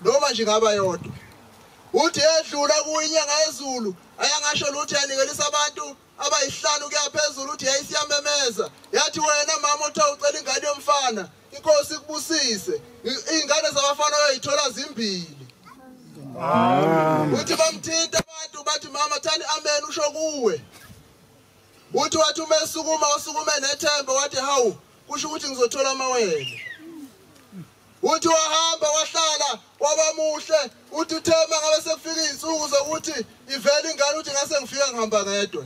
noma nje ngaba yodwa uthi edlula kuyinyanga yezulu ayangasho lutho yanikelisa abantu abayihlanu kuya phezulu uthi yayisiyamemeza yathi wena mama othe ucela ingane yomfana inkosi ikubusise iy'ngane zabafana oyoyithola zimbili uthi bamthinta abantu bathi mama thani amen usho kuwe uthi wathi uma esukuma usukume nethemba wathi hawu kusho ukuthi ngizothola amawele Uthi wahamba wahlala wabamuhle uthi uthema ngabe sekufika izinsuku zokuthi ivele ingane uthi ngase ngifika ngihamba ngedwa.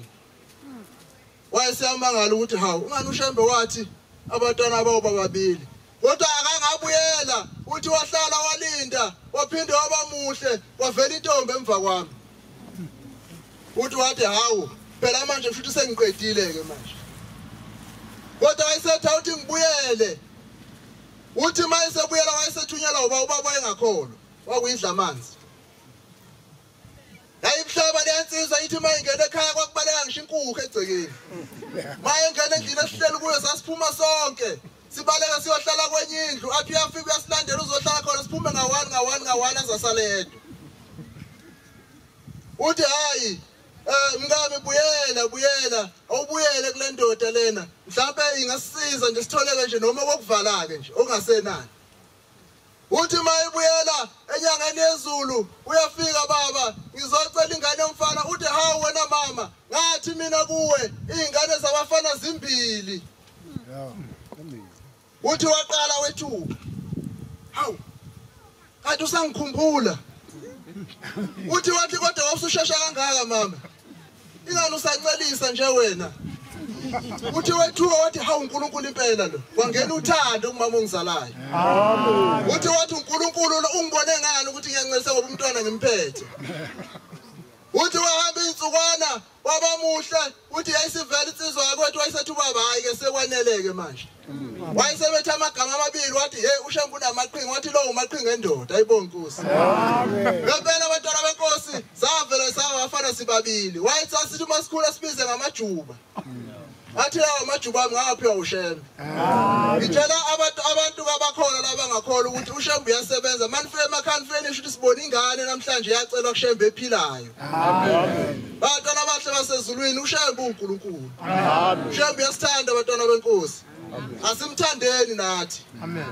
Wayesiyamangala ukuthi hawu ungani ushembe wathi abatwana bawo bababili. Kodwa akangabuyela uthi wahlala walinda waphinde wabamuhle wavela intombi emva kwami. Uthi wathi hawu phela manje futhi sengiqedile ke manje. Kodwa wayesetha uthi ngibuyele Uthi uma esebuyela wayesethunyelwa uba ubaba wayengakholwa wakuyidla amanzi. Yayibuhlaba leyansizwa ithi uma ingena ekhaya kwakubaleka ngisho inkukhu egcekeni. Uma engena endlini esihleli kuyo sasiphuma sonke. Sibaleka siyohlala kwenye indlu athi uyafika uyasilandela uzohlala khona siphume ngawani ngawani ngawani azasaledwa. Uthi hayi Eh mkami buyela buyela awubuyele kule ndoda lena mhlawumbe ingasiza nje sitholeke nje noma kokuvala-ke nje ongasenani uthi uma ibuyela enyangeni yezulu uyafika baba ngizocela ingane yomfana uthi hawu wena mama ngathi mina kuwe iy'ngane zabafana zimbili Uthi waqala wethuka. Hawu. Kanti usangikhumbula. Uthi wathi kodwa wawusushesha kangaka mama. Ingani usancelisa nje wena. Uthi wethuka wathi hawu uNkulunkulu impela lo. Wangena uthando kumama ongizalayo. Amen. Uthi wathi uNkulunkulu ungibone ngani ukuthi ngiyancelisa ngoba umntwana ngimphethe. Uthi wahamba insukwana Baba muhle uthi yayisivela insizwa yakwethu wayesethi ubaba hayi ke sekwaneleke manje. Wayesebethe amagama amabili wathi hey ushembu namaqhinga wathi lo umaqhinga endoda ayibonkusi. Ngempela abantwana benkosi savela sawa afana sibabili. Wayethi asithi uma sikhula sibize ngamajuba. Athi lawa majuba ami ngawaphiwa uShembe. Ngitshela abantu abantu kabakhona labangakhola ukuthi uShembe uyasebenza. Manifike emakhani finish ukuthi sibone ingane namhlanje yacelwa kuShembe ephilayo. Amen. Bantwana abahle basezulwini uShembe uNkulunkulu. Amen. Shembe uyasithanda bantwana benkosi. Asimthandeni nathi. Amen.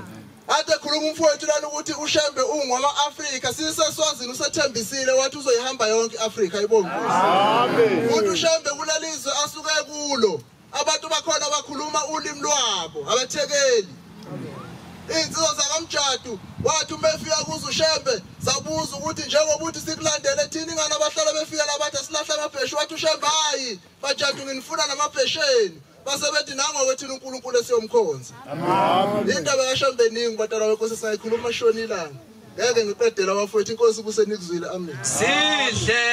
Ade khuluma umfowethu lana ukuthi uShembe ungwama Africa siseswazini usethembisile wathi uzoyihamba yonke iAfrica ibonga. Amen. Umuntu uShembe kulalizwe asuke kulo. Abantu bakhona bakhuluma ulimi lwabo abathekeli. Insizwa zakamjadu wathi uma efika kuze uShembe sabuza ukuthi njengoba uthi sikulandele thina ingane abahlala befika labathi silahla amabheshu wathi uShembe hayi bajadu nginifuna namabhesheni. base bethi nangoke thina uNkulunkulu esiyomkhonza indaba yashembe ningi batala wenkosi sayikhuluma shonilanga ngeke ngiqedela bafowethu inkosi kusenikuzwile amen sidle